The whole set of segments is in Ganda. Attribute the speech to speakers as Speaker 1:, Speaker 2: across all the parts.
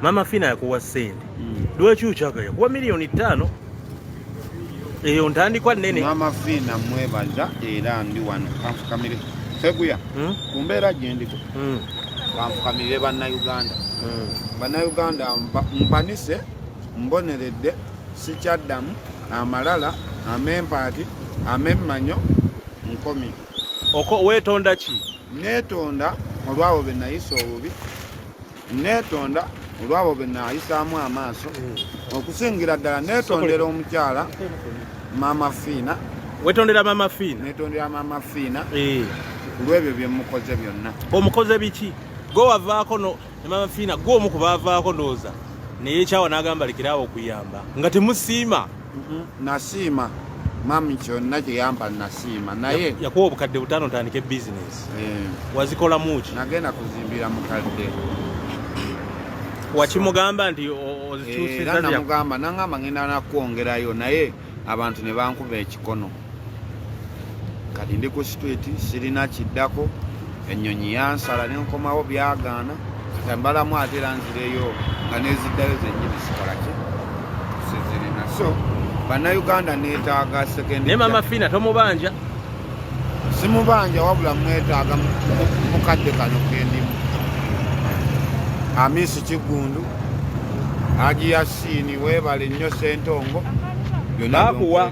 Speaker 1: mama fina yakuwa sente mm. lwaki ukyaka yakuwa miliyoni ttaano eyo ntandikwa nene mama fina
Speaker 2: mwebaza era ndi wano kanfukamire seguya mm? ku mbeera gyendiko mm. kanfukamire bannayuganda mm. bannayuganda mpanise mboneredde sikyaddamu amalala amempaati amemmanyo nkomi oko
Speaker 1: wetonda ki netonda
Speaker 2: olwawo benayisa obubi Neetonda olwabo be naayisaamu amaaso hmm. okusingira ddala neetondera omukyala maama fiina wetondera maama
Speaker 1: fiina netondera maama fiina
Speaker 2: eh. kulwebyo byemukoze byonna omukoze biki
Speaker 1: gwe wavaako no maama fiina gwe omu ku baavaako ndowooza neyekyawa n'agamba lekerawo okuyamba nga temusiima Mhm. nasiima
Speaker 2: mami kyonna kyeyampa nasiima naye yakuwa obukadde butaano
Speaker 1: ntandike bizinesi eh. wazikolamuki nagenda kuzimbira
Speaker 2: mukadde
Speaker 1: wakimugamba nti ozikyusiza namugamba
Speaker 2: nangamba ngenda nakwongerayo naye abantu ne bankuba ekikono kati ndi ku street sirina kiddako ennyonyi yansala ne nkomawo byagaana katambalamu ate era nzireyo nga neziddayo zenyini sikalaki sizirina so bannayuganda neetaaga sekenaye mama fiina tomubanja simubanja wabula mwetaaga mukadde kano kendimu amisi kiggundu agiya siini weebale nnyo sentongo bakuwa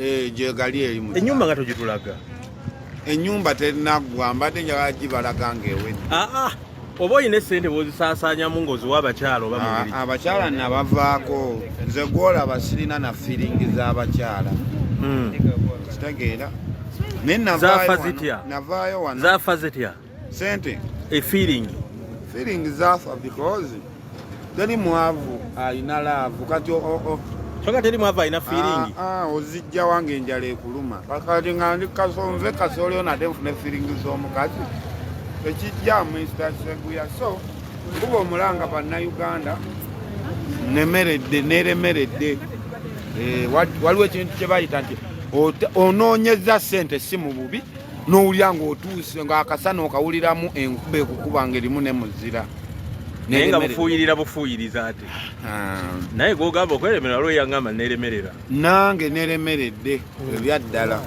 Speaker 1: Eh, gyegali
Speaker 2: erimu enyumba nga togitulaga
Speaker 1: enyumba
Speaker 2: terinaggwa mbadde njagala gibalaga ngaewedde ah, ah. oba
Speaker 1: olina esente bwozisaasanyamu ngaoziwa abakyala oba ah, abakyala nabavaako
Speaker 2: nze gwolaba sirina na firingi z'abakyala hmm. kitegeera
Speaker 1: naye navaayo wano sente
Speaker 2: a feeling
Speaker 1: feeling
Speaker 2: zafa because teri mwavu alina laavu kati soka teri
Speaker 1: mwavu alina feeling ah, ah, ozijja wange
Speaker 2: enjala ekuluma kati nga ndi kasonze kasoleo nate nfune feeling z'omukazi ekijja mu instaseguya so kuba omulanga bannayuganda nemeredde neremeredde eh, waliwo ekintu kye bayita nti onoonyeza sente si mu bubi n'owulira ng'otuuse ng'akasana okawuliramu enkuba ekukuba ng'erimu ne muzira naye nga
Speaker 1: bufuuyirira bufuuyiriza ate ah. naye gwogamba okweremera waliwo yangamba neremerera nange
Speaker 2: neremeredde ebyaddala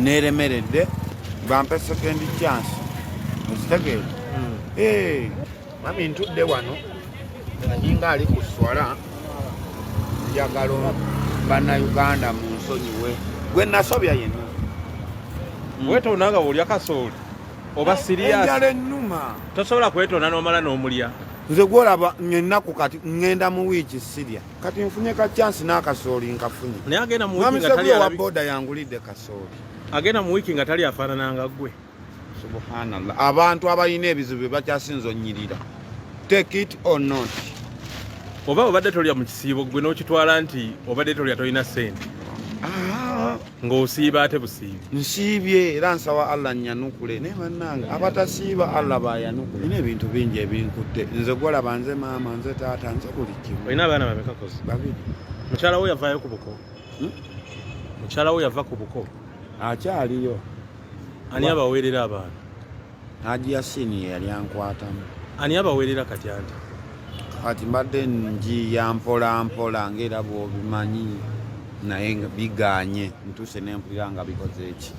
Speaker 2: neremeredde bampe sekendi chance mukitegeeza hmm. eh. mami ntudde wano aninga ali ku swala njagalo bannayuganda mu nsonyiwe gwe nasobya yenna hmm.
Speaker 1: wetonda nga wolya kasooli oba siriyasala ennuma
Speaker 2: tosobola kwetonda
Speaker 1: nomala n'omulya nze gwolaba
Speaker 2: ngenaku kati ngenda mu wiiki sirya kati nfunye ka chansi n'akasooli nkafunye naye agenda mu wiiki nga
Speaker 1: tali wa boda yangulidde
Speaker 2: kasooli agenda mu wiiki nga
Speaker 1: tali afaanana nga gwe subhanallah
Speaker 2: abantu abalina ebizibu bakyasinza onyirira take it or not oba
Speaker 1: obadde tolya mu kisiibo gwe n'okitwala nti obadde tolya tolina sente ah. ng'osiiba ate busiibi nsiibye era
Speaker 2: nsaba allah nyanukule naye bannange abatasiiba allah bayanukule na ebintu bingi ebinkutte nze gwolaba nze maama nze taata nze buli kimu olina abaana bamekakozi
Speaker 1: babiri
Speaker 2: mukyala wo yavaayo
Speaker 1: ku buko hmm? mukyala wo yava ku buko akyaliyo ani abaweerera abaana haji
Speaker 2: yasini yeyali ankwatamu ani abaweerera
Speaker 1: kati ante kati
Speaker 2: mbadde njiya mpolampola ngaera bwobimanyi naye nga biganye ntuuse nempulira nga bikoze eki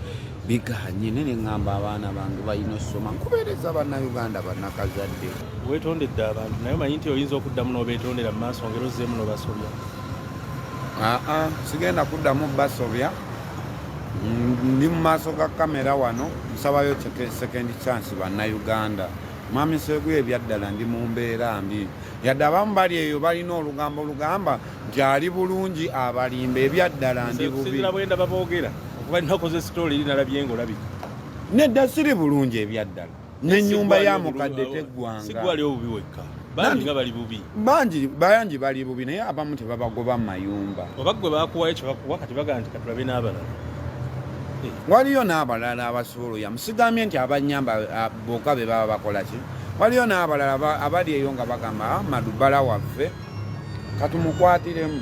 Speaker 2: biganye naye neŋŋamba abaana bange balina osoma nkubeereza bannauganda bannakazadde wetondedde
Speaker 1: abantu naye omanyi nti oyinza okuddamu n'obeetondera mu maaso ngero zzeemu nobasobya aa
Speaker 2: sigenda kuddamu basobya ndi mu maaso ga kamera wano nsabayo second chance bannayuganda mwami seguye ebyaddala ndi mu mbeera mbi yadde abamu bali eyo balina olugambo olugamba nti ali bulungi abalimba ebyaddala ndi bubiindababoogera
Speaker 1: okuba ninakoze sitoli eri nalabye ngaolabika nedda
Speaker 2: siri bulungi ebyaddala n'ennyumba ya mukadde teggwanga sigwali obubi
Speaker 1: wekka bangi nga bali bubi bangi bangi
Speaker 2: bali bubi naye abamu tebabagoba mu
Speaker 1: mayumba oba gwe bakuwayo
Speaker 2: kyebakuwa
Speaker 1: kati bagamba nti
Speaker 2: katulabe
Speaker 1: n'abalala eh.
Speaker 2: waliyo n'abalala abasobola oya musigambye nti abanyamba boka be baba bakola ki waliyo n'abalala abali eyo nga bagamba ah, madubala waffe katumukwatiremu